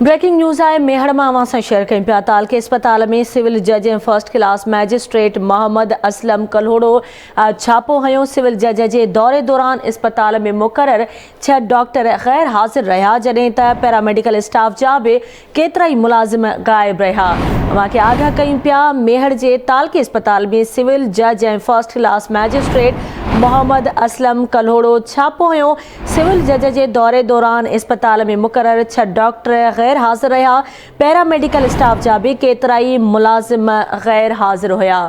Breaking news آء ميهڙ مان اوهان سان شيئر ڪيون پيا ته علقي اسپتال ۾ سول جج ۽ first class magistrate Muhammad Aslam Kalhoro ڇاپو هنيو سول جج جي دوري دوران اسپتال ۾ مقرر ڇهه ڊاڪٽر غير حاضر رهيا جڏهن ته پيراميڊيڪل اسٽاف جا به ڪيترائي ملازم غائب رهيا اوهان کي آگاهه ڪيون پيا ميهڙ جي تعلقي اسپتال ۾ سول جج ۽ first class magistrate Muhammad Aslam Kalhoro ڇاپو هنيو سول جج جي دوري دوران اسپتال ۾ مقرر ڇهه ڊاڪٽر غير حاضر رهيا، پيرا ميڊيڪل اسٽاف جا به ڪيترائي ملازم غير حاضر هيا.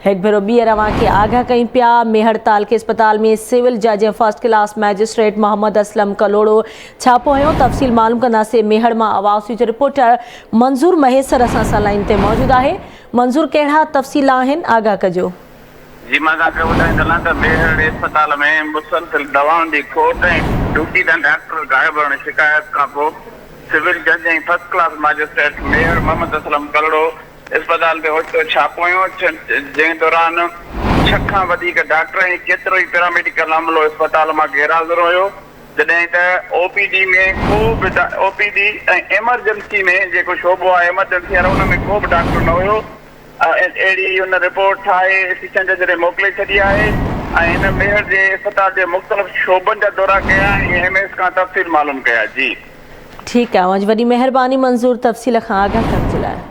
هڪ ڀيرو ٻيهر اوهان کي آگاهه ڪيون پيا، مي هڙتال کي اسپتال ۾ سول جج ۽ first class magistrate Muhammad Aslam Kalhoro ڇاپو هنيو، تفصيل معلوم ڪنداسين، ميهڙ مان آواز نيوز جو رپورٽر منظور مهيسر اسان سان لائين تي موجود آهي، منظور ڪهڙا تفصيل آهن آگاهه ڪجو. جي مان تهانکي ٻڌائي سگهان ته ميهڙي اسپتال ۾ مسلسل دوائن جي کوٽ ۽ ڊيوٽي تان ڊاڪٽر غائب رهڻ جي شڪايت کانپوء سول جج ۽ first class magistrate Mehar Muhammad Aslam Karro اسپتال تي اوچتو ڇاپو هنيو جنهن دوران ڇهه کان وڌيڪ ڊاڪٽر ۽ ڪيترو ئي پيراميڊيڪل عملو اسپتال مان غيرحاضر هيو جڏهن ته او پي ڊي ۾ ڪو به او پي ڊي ۽ ايمرجنسي ۾ جيڪو شعبو آهي ايمرجنسي وارو ان ۾ ڪو به ڊاڪٽر نه هيو اهڙي هن رپورٽ ٺاهي اسٽيشن تي جڏهن موڪلي ڇڏي آهي ۽ هن ميهڙ جي اسپتال جي مختلف شعبن جا دورا ڪيا ۽ ايم ايس کان تفصيل معلوم ڪيا جي. ٺيڪ آهي اوهان جي وڏي مهرباني منظور تفصيل کان آگاهه ڪرڻ جي لاء.